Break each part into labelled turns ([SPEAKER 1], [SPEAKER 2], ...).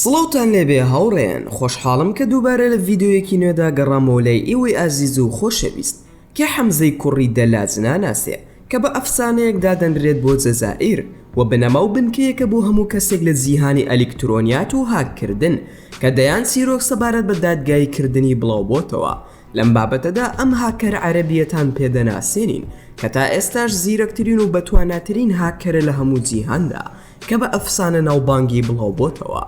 [SPEAKER 1] سڵاوتان لێبێ هاوڕێیان خۆشحاڵم کە دووبارە لە ڤیددیویەکی نوێدا گەڕامۆلای ئیوەی ئازیز و خۆشەویست کە حەمزەی کوڕی دەلاج ناناسێ، کە بە ئەفسانەیەک دادەنرێت بۆ جەزائیر و بنەما و بنکەیەکە بۆ هەموو کەسێک لە جیهانی ئەلیکترۆنیات و هاک کردن، کە دەیان چیرۆک سەبارەت بە دادگایی کردنی بڵاو بۆتەوە، لەم بابەتەدا ئەم هاککەر عەرەبییەتان پێ دەناسێنین، کە تا ئێستاش زیرەکترین و بەتواناترین هاککەرە لە هەموو جیهاندا، کە بە ئەفسانە ناوبانگی بڵاو بۆتەوە.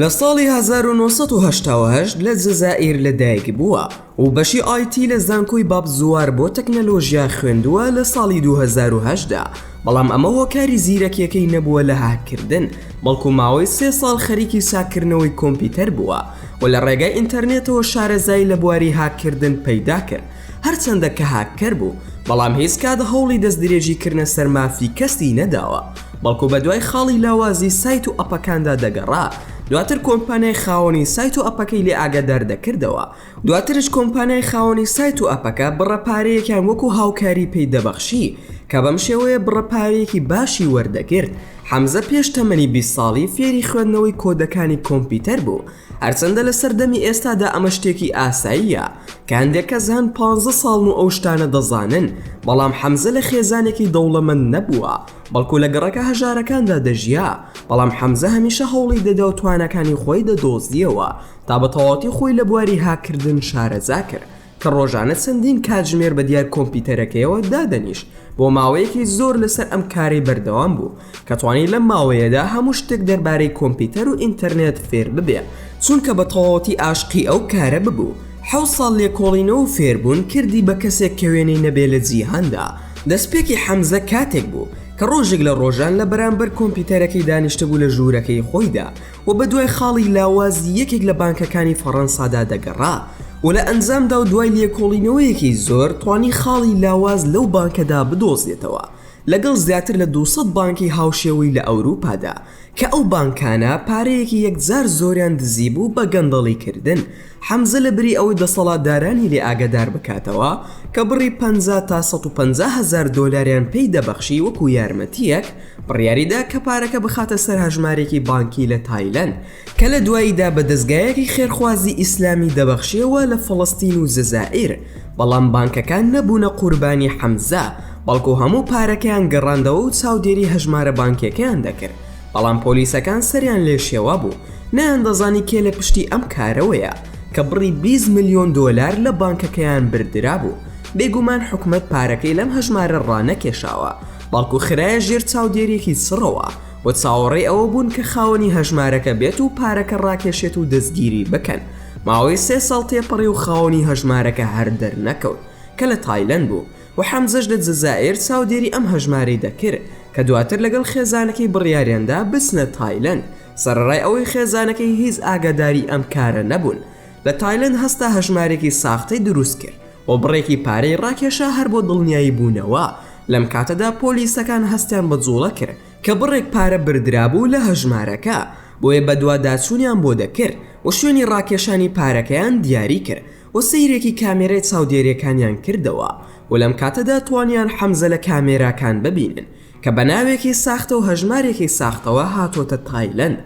[SPEAKER 1] لە ساڵی 1970 لە جەزائیر لە دایک بووە و بەشی ئایتی لە زانکۆی باب زوار بۆ تەکنەلۆژیا خوێندووە لە ساڵی 2010دا بەڵام ئەمە هۆکاری زیرەکیەکەی نەبووە لە هاککردن بەڵکو ماوەی سێ ساڵ خەریکی چاککردنەوەی کۆمپیوتەر بووە و لە ڕێگای ئینتەرنێتەوە شارەزایی لە بواری هاککردن پەیدا کرد هەرچەندە کە هاککەر بوو بەڵام هیچ کات هەوڵی دەست درێژیکردنە سەر مافی کەسی نەداوە. بەڵکو بەدوای خاڵی لاوازی سایت و ئەپەکاندا دەگەڕا، دواتر کۆمپانیای خاوەنی سایت و ئەپەکەی لێ ئاگادار دەکردەوە، دواترش کۆمپانیای خاوەنی سایت و ئەپەکە بڕە پارەیەکیان وەکو هاوکاری پێی دەبەخشی، کە بەم شێوەیە بڕە پارەیەکی باشی وەردەگرت، حەمزە پێش تەمەنی بیست ساڵی فێری خوێندنەوەی کۆدەکانی کۆمپیوتەر بوو، هەرچەندە لە سەردەمی ئێستادا ئەمە شتێکی ئاساییە، کە هەندێک کەس هەن پانزە ساڵن و ئەو شتانە دەزانن، بەڵام حەمزە لە خێزانێکی دەوڵەمەند نەبووە، بەڵکو لە گەڕەکە هەژارەکاندا دەژیا، بەڵام حەمزە هەمیشە هەوڵی دەدا و تواناکانی خۆی دەدۆزییەوە تا بە تەواوەتی خۆی لە بواری هاککردن شارەزا کرد کە ڕۆژانە چەندین کاتژمێر بە دیار کۆمپیوتەرەکەیەوە دادەنیشت بۆ ماوەیەکی زۆر لەسەر ئەم کارەی بەردەوام بوو کە توانی لەم ماوەیەدا هەموو شتێک دەربارەی کۆمپیوتەر و ئینتەرنێت فێر ببێ چونکە بە تەواوەتی ئاشقی ئەو کارە ببوو حەوت ساڵ لێکۆڵینەوە و فێربوون کردی بە کەسێک کە وێنەی نەبێ لە جیهاندا دەستپێکی حەمزە کاتێک بوو کە ڕۆژێک لە ڕۆژان لە بەرامبەر کۆمپیوتەرەکەی دانیشتبوو لە ژوورەکەی خۆیدا و بەدوای خاڵی لاوازی یەکێک لە بانکەکانی فەڕەنسادا دەگەڕا و لە ئەنجامدا و دوای لێکۆڵینەوەیەکی زۆر توانی خاڵی لاواز لەو بانکەدا بدۆزێتەوە لەگەڵ زیاتر لە دوو سەد بانکی هاوشێوەی لە ئەوروپادا کە ئەو بانکانە پارەیەکی یەکجار زۆریان دزیبوو بە گەندەڵیکردن حەمزە لە بری ئەوەی دەسەڵاتدارانی لێ ئاگادار بکاتەوە کە بڕی پەنجا تا سەد و پەنجا هەزار دۆلاریان پێی دەبەخشی وەکو یارمەتییەک، بڕیاری دا کە پارەکە بخاتە سەر هەژمارێکی بانکی لە تایلەند کە لە دواییدا بە دەزگایەکی خێرخوازی ئیسلامی دەبەخشییەوە لە فەڵەستین و جەزائیر، بەڵام بانکەکان نەبوونە قوربانی حەمزە، بەڵکو هەموو پارەکەیان گەڕاندەوە و چاودێری هەژمارە بانکییەکەیان دەکرد. بەڵام پۆلیسەکان سەریان لێ شێوا بوو، نەیاندەزانی کێ لە پشتی ئەم کارەوەیە کە بڕی بیست ملیۆن دۆلار لە بانکەکەیان بردرابوو، بێگومان حکومەت پارەکەی لەم هەژمارە ڕانەکێشاوە، بەڵکو خرایە ژێر چاودێرییەکی چڕەوە و چاوەڕێی ئەوە بوون کە خاوەنی هەژمارەکە بێت و پارەکە ڕاکێشێت و دەستگیری بکەن، ماوەی سێ ساڵ تێپەڕی و خاوەنی هەژمارەکە هەر دەرنەکەوت کە لە تایلەند بوو. و حەمزەش لە جەزائیر چاودێری ئەم هەژمارەی دەکرد کە دواتر لەگەڵ خێزانەکەی بڕیاریاندا بچنە تایلەند سەرەڕای ئەوەی خێزانەکەی هیچ ئاگاداری ئەم کارە نەبوون لە تایلەند هەستا هەژمارێکی ساختەی دروست کرد و بڕێکی پارەی ڕاکێشا هەر بۆ دڵنیایی بوونەوە لەم کاتەدا پۆلیسەکان هەستیان بە جوڵە کرد کە بڕێک پارە بردرابوو لە هەژمارەکە بۆیە بەدواداچوونیان بۆ دەکرد و شوێنی ڕاکێشانی پارەکەیان دیاری کرد و سەیرێکی کامێرای چاودێریەکانیان کردەوە و لەم کاتەدا توانیان حەمزە لە کامێراکان ببینن کە بە ناوێکی ساختە و هەژمارێکی ساختەوە هاتۆتە تایلەند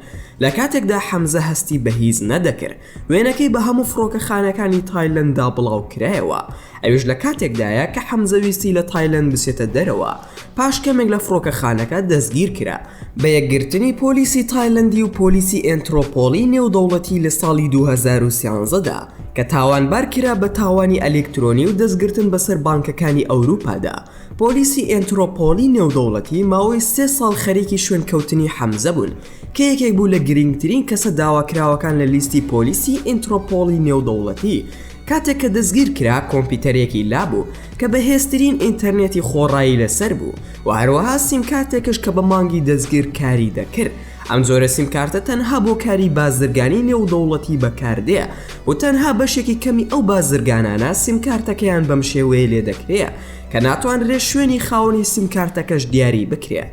[SPEAKER 1] لە کاتێکدا حەمزە هەستی بە هیچ نەدەکرد وێنەکەی بە هەموو فڕۆکەخانەکانی تایلەنددا بڵاو کرایەوە ئەویش لە کاتێکدایە کە حەمزە ویستی لە تایلەند بچێتە دەرەوە پاش کەمێک لە فڕۆکەخانەکە دەستگیرکرا. بە یەکگرتنی پۆلیسی تایلەندی و پۆلیسی ئێنترۆپۆڵی نێودەوڵەتی لە ساڵی دوو هەزار و سیانزە دا کە تاوانبار کرا بە تاوانی ئەلیکترۆنی و دەستگرتن بەسەر بانکەکانی ئەوروپادا، پۆلیسی ئێنترۆپۆڵی نێودەوڵەتی ماوەی سێ ساڵ خەریکی شوێنکەوتنی حەمزە بوون کە یەکێک بوو لە گرینگترین کەسە داواکراوەکان لە لیستی پۆلیسی ئینترۆپۆڵی نێودەوڵەتی کاتێک کە دەستگیر کرا کۆمپیوتەرێکی لابوو کە بەهێزترین ئینتەرنێتی خۆڕایی لەسەر بوو و هەروەها سیمکارتێکش کە بە مانگی دەستگیر کاری دەکرد ئەم جۆرە سیمکارتە تەنها بۆ کاری بازرگانی نێودەوڵەتی بەکاردێ و تەنها بەشێکی کەمی ئەو بازرگانانە سیمکارتەکەیان بەم شێوەیە لێ دەکرێ کە ناتوانرێ شوێنی خاوەنی سیمکارتەکەش دیاری بکرێ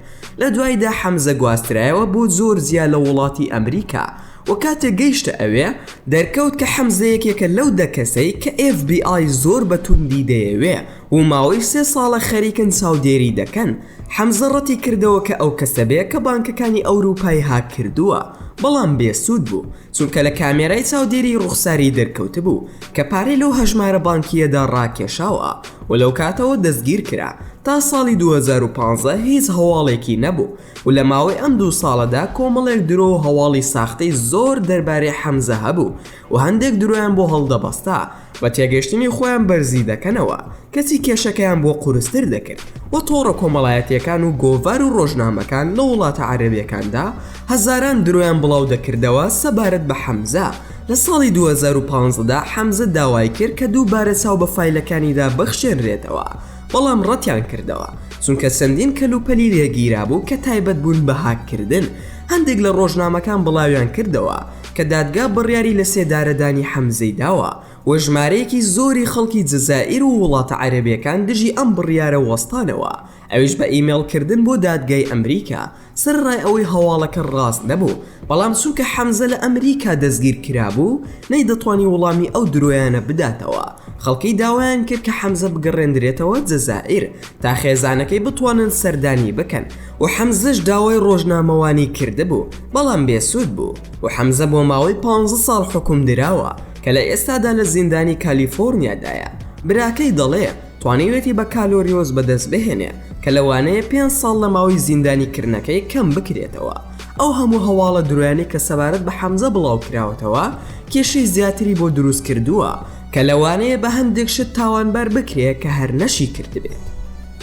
[SPEAKER 1] لە دوایدا حەمزە گواسترایەوە بۆ جۆرجیا لە وڵاتی ئەمریکا و کاتێک گەیشتە ئەوێ دەرکەوت کە حەمزە یەکێکە لەو دە کەسەی کە ئێف بی ئای زۆر بە توندی دەیەوێ و ماوەی سێ ساڵە خەریکن چاودێری دەکەن حەمزە ڕەتی کردەوە کە ئەو کەسە بێ کە بانکەکانی ئەوروپای هاک کردووە بەڵام بێ سوود بوو چونکە لە کامێرای چاودێری ڕوخساری دەرکەوتبوو کە پارەی لەو هەژمارە بانکییەدا ڕاکێشاوە و لەو کاتەوە دەستگیر کرا تا ساڵی 2015 هیچ هەواڵێکی نەبوو و لە ماوەی ئەم دوو ساڵەدا کۆمەڵێک درۆ و هەواڵی ساختەی زۆر دەربارەی حەمزە هەبوو و هەندێک درۆیان بۆ هەڵدەبەستا و تێگەشتنی خۆیان بەرزی دەکەنەوە کەچی کێشەکەیان بۆ قورستر دەکرد و تۆڕە کۆمەڵایەتیەکان و گۆڤار و ڕۆژنامەکان لە وڵاتە عەرەبیەکاندا هەزاران درۆیان بڵاو دەکردەوە سەبارەت بە حەمزە لە ساڵی دوو هەزار و پازدە دا حەمزە داوای کرد کە دووبارە چاو بە فایلەکانیدا بخشێنرێتەوە بەڵام ڕەتیان کردەوە چونکە چەندین کەلوپەلی لێگیرابوو کە تایبەت بوون بە هاککردن، هەندێک لە ڕۆژنامەکان بڵاویان کردەوە کە دادگا بڕیاری لەسێدارەدانی حەمزەی داوە و ژمارەیەکی زۆری خەڵکی جەزائیر و وڵاتە عەرەبییەکان دژی ئەم بڕیارە وەستانەوە ئەویش بە ئیمێڵکردن بۆ دادگای ئەمریکا سەرەڕای ئەوەی هەواڵەکە ڕاست نەبوو، بەڵام چونکە حەمزە لە ئەمریکا دەستگیرکرابوو، نەیدەتوانی وڵامی ئەو درۆیانە بداتەوە، خەڵکی داوایان کرد کە حەمزە بگەڕێندرێتەوە جەزائیر تا خێزانەکەی بتوانن سەردانی بکەن و حەمزەش داوای ڕۆژنامەوانی کردبوو، بەڵام بێسوود بوو و حەمزە بۆ ماوەی پانزە ساڵ حوکمدراوە کە لە ئێستادا لە زیندانی کالیفۆرنیادایە. براکەی دەڵێ. توانیوێتی بەکالۆریۆس بەدەست بهێنێ کە لەوانەیە پێنج ساڵ لە ماوەی زیندانی کردنەکەی کەم بکرێتەوە ئەو هەموو هەواڵە درۆیانەی کە سەبارەت بە حەمزە بڵاو کراوەتەوە کێشەی زیاتری بۆ دروست کردووە کە لەوانەیە بە هەندێک شت تاوانبار بکرێ کە هەر نەشی کردبێت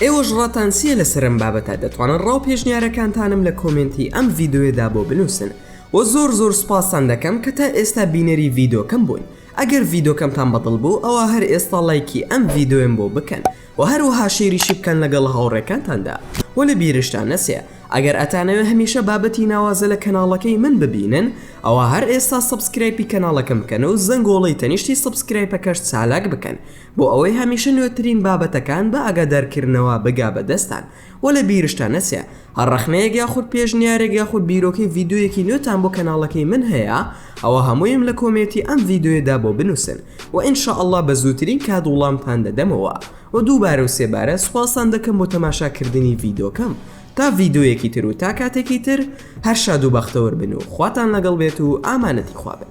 [SPEAKER 1] ئێوەش ڕاتان چییە لەسەر ئەم بابەتە دەتوانن ڕاو پێشنیارەکانتانم لە کۆمێنتی ئەم ڤیدۆیەدا بۆ بنووسن وە زۆر زۆر سوپاستان دەکەم کە تا ئێستا بینەری ڤیدۆکەم بوون ئەگەر ڤیدۆکەمتان بەدڵ بوو ئەوا هەر ئێستا ڵایکی ئەم ڤیدۆیەم بۆ بکەن وە هەروەها شێریشی بکەن لەگەڵ هاوڕێکانتاندا وە لە بیرشتان نەچێ ئەگەر ئەتانەوێ هەمیشە بابەتی ناوازە لە کەناڵەکەی من ببینن ئەوا هەر ئێستا سەبسکرایپی کەناڵەکەم بکەن و زەنگۆڵەی تەنیشتی سەبسکرایپەکەش چالاک بکەن بۆ ئەوەی هەمیشە نوێترین بابەتەکان بە ئاگادارکردنەوە بگا بە دەستان وە لە بیرشتان نەچێ هەر ڕەخنەیەک یاخود پێشنیارێک یاخود بیرۆکەی ڤیدۆیەکی نوێتان بۆ کەناڵەکەی من هەیە ئەوا هەموویم لە کۆمێتی ئەم ڤیدۆیەدا بۆ بنوسن وە ان شاء اللە بە زووترین کات وڵامتان دەدەمەوە وە دووبارە و سێبارە سوپاستان دەکەم بۆ تەماشا کردنی ڤیدۆکەم تا ڤیدۆیەکی تر و تا کاتێکی تر هەر شاد و بەختەوەر بن و خواتان لەگەڵ بێت و ئامانەتی خوا بن.